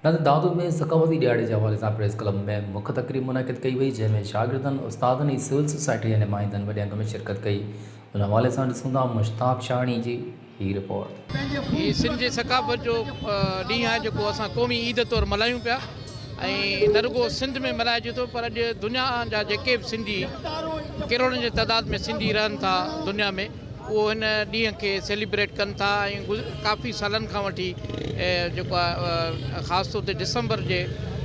نظر دادو ۾ ثقافتي ڏهاڙي جي حوالي سان پريس ڪلب ۾ مک تقريب منعقد ڪئي وئي جنهن ۾ شاگردن استادن ۽ سول سوسائٽي جي نمائندن وڏي انگ ۾ شرڪت ڪئي ان حوالي سان ڏسون ٿا مشتاق شاهاڻي جي هي رپورٽ. هي سنڌ جي ثقافت جو ڏينهن آهي جيڪو اسان قومي عيد طور ملهايون پيا ۽ نه رڳو سنڌ ۾ ملهائجي ٿو پر اڄ دنيا جا جيڪي به سنڌي ڪروڙن جي تعداد ۾ سنڌي رهن ٿا دنيا ۾ اهو هن ڏينهن کي سيليبريٽ ڪن ٿا ۽ ڪافي سالن کان وٺي جيڪو آهي خاص طور تي ڊسمبر جي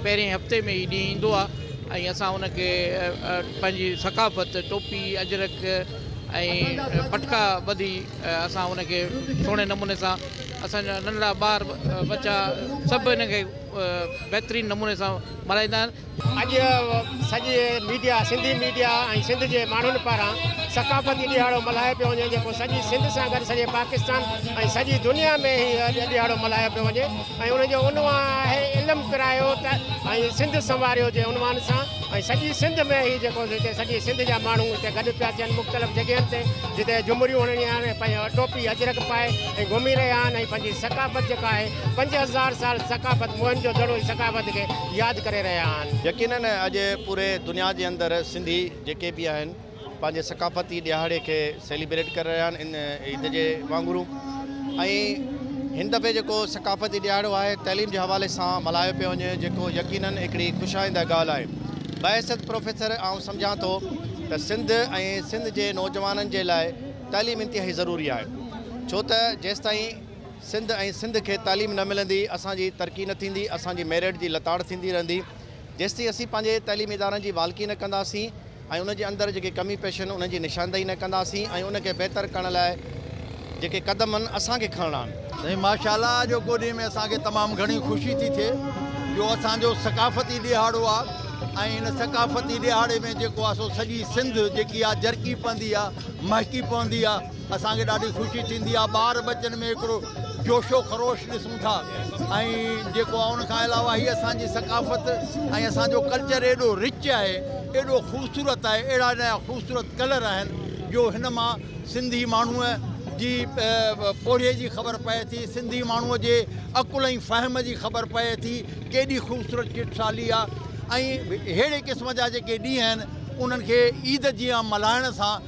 پهرين هفتي ۾ هي ڏينهن ايندو آهي ۽ اسان ان کي پنهنجي ثقافت ٽوپي اجرڪ ۽ پٽڪا ٻڌي اسان ان کي سهڻي نموني سان اسانجا ننڍڙا ٻار ٻچا سڀ ان کي بهترين نموني سان ملهائيندا آهن اڄ سڄي ميڊيا سنڌي ميڊيا ۽ سنڌ جي ماڻهن پاران ثقافتي ڏهاڙو ملهايو پيو وڃي جيڪو سڄي سنڌ سان گڏ سڄي پاڪستان ۽ سڄي دنيا ۾ هي اڄ ڏهاڙو ملهايو پيو وڃي ۽ ان جو عنوان آهي علم ڪرايو ته ۽ سنڌ سنواريو جي عنوان سان ۽ سڄي سنڌ ۾ هي جيڪو هتي سڄي سنڌ جا ماڻهو هتي گڏ پيا ٿين مختلف جڳهين تي جتي جمريون هڻڻي آهن پنهنجي ٽوپي اجرڪ پائي ۽ گهمي رهيا آهن ۽ پنهنجي ثقافت جيڪا آهي پنج هزار سال ثقافت موهن جو دڙو ثقافت کي ياد ڪري رهيا آهن. يقينن اڄ پوري دنيا جي اندر سنڌي جيڪي به آهن پنهنجي ثقافتي ڏهاڙي کي سيليبريٽ ڪري رهيا آهن ان عيد جي وانگورون ۽ هن دفعي جيڪو ثقافتي ڏهاڙو آهي تعليم جي حوالي سان ملهايو پيو وڃي جيڪو يقينن هڪڙي خوش آئنده ڳالهه آهي بحيثيت پروفيسر آئون سمجهان ٿو ته سنڌ ۽ سنڌ جي نوجوانن جي لاء تعليم انتهائي ضروري آهي ڇو ته جيستائين سنڌ ۽ سنڌ کي تعليم نه ملندي اسان جي ترقي نه ٿيندي اسان جي ميرٽ جي لتاڙ ٿيندي رهندي جيستائين اسين پنهنجي تعليمي ادارن جي والڪي نه ڪنداسين ۽ ان جي اندر جيڪي ڪمي پيشي آهن انهن جي نشاندهي نه ڪنداسين ۽ ان کي بهتر ڪرڻ لاء جيڪي قدم آهن اسان کي کڻڻا آهن. سائين ماشاءالله جو ڪو ڏينهن ۾ اسان کي تمام گهڻي خوشي ٿي ٿئي جو اسان جو ثقافتي ڏيهاڙو آ ۽ ان ثقافتي ڏيهاڙي ۾ جيڪو آ سو سڄي سنڌ جيڪي آ جرڪي پوندي آ مهڪي پوندي آ. اسان کي ڏاڍي خوشي ٿيندي آهي ٻار ٻچن ۾ هڪڙو جوش و خروش ڏسون ٿا ۽ جيڪو آهي ان کان علاوه هي اسان جي ثقافت ۽ اسان جو ڪلچر ايڏو رچ آهي ايڏو خوبصورت آهي اهڙا نيا خوبصورت ڪلر آهن جو هن مان سنڌي ماڻهوء جي پورهيي جي خبر پئي ٿي سنڌي ماڻهوء جي عقل ۽ فهم جي خبر پئي ٿي ڪيڏي خوبصورت چٽسالي آهي ۽ ههڙي قسم جا جيڪي ڏينهن آهن انهن کي عيد جيان ملهائڻ سان